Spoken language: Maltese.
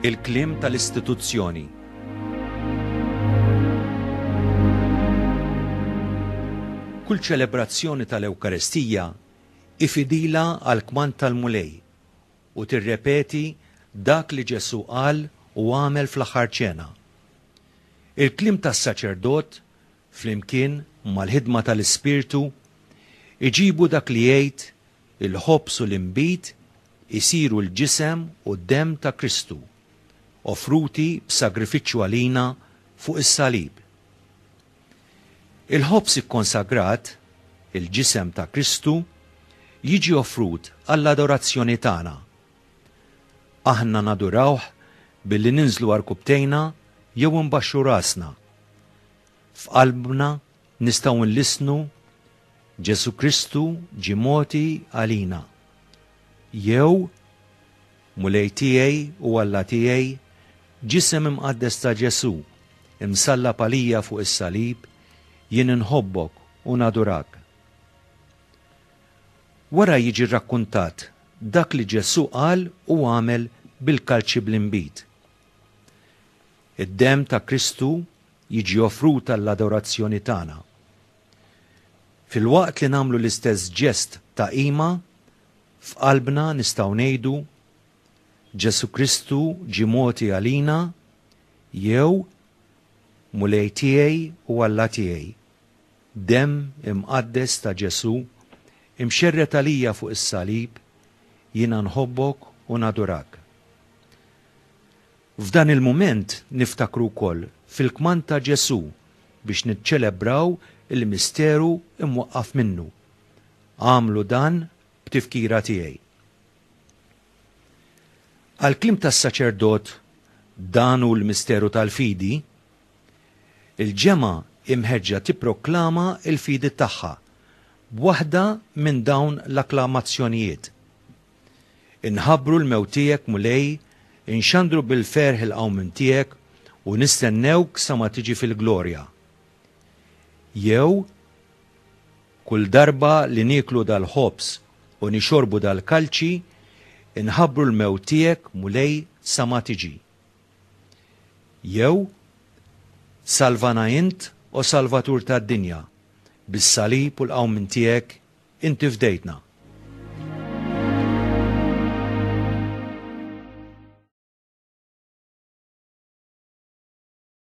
Il-kliem tal-istituzzjoni. Kull ċelebrazzjoni tal-Ewkaristija hi fidila għall-kmand tal-Mulej u tirrepeti dak li Ġesù qal u għamel fl-Aħħar Ċena. Il-kliem tas-saċerdot, flimkien mal-ħidma tal-Ispirtu, iġibu dak li jgħid Il-ħobż u l-inbid isiru l-ġisem u d-demm ta' Kristu, offruti b'sagrifiċċju għalina fuq is-salib. Il-ħobż ikkonsagrat, il-ġisem ta' Kristu, jiġi offrut għall-adorazzjoni tagħna. Aħna nadurawh billi ninżlu għarkupptejna jew inbaxxu rasna. F'qalbna Nistgħu nlissnu, Ġesù Kristu ġie mogħti għalina. Jew, Mulej tiegħi u Alla tiegħi, ġisem imqaddes ta' Ġesù, imsallab għalija fuq is-salib, jien inħobbok u nadurak. Wara jiġi rrakkuntat dak li Ġesù qal u għamel bil-kalċi bl-inbid. Id-demm ta' Kristu jiġi offrut għall-adorazzjoni tagħna. Filwaqt li nagħmlu l-istess ġest ta' qima, f'qalbna nistgħu ngħidu, Ġesù Kristu ġie mogħti għalina jew Mulej tiegħi u Alla tiegħi, demm imqaddes ta' Ġesù imxerred għalija fuq is-salib, jiena nħobbok u nadurak. F'dan il-mument niftakru wkoll fil-kmand ta' Ġesù biex niċċelebraw il-misteru mwaqqaf minnu, Agħmlu dan b'tifkira tiegħi. Għall-kliem tas-saċerdot Dan hu l-misteru tal-fidi, il-ġemgħa hi mħeġġa tipproklama l-fidi tagħha b'waħda minn dawn l-akklamazzjonijiet. Inħabbru l-mewt tiegħek, Mulej, inxandru bil-ferħ il-qawmien tiegħek u nistennewk sa ma tiġi fil-glorja. Jew, Kull darba li nieklu dal-ħobż u nixorbu dal-kalċi, inħabbru l-mewt tiegħek, Mulej, sa ma tiġi. Jew, Salvana int, o Salvatur tad-dinja, bis-salib u l-qawmien tiegħek Inti fdejtna.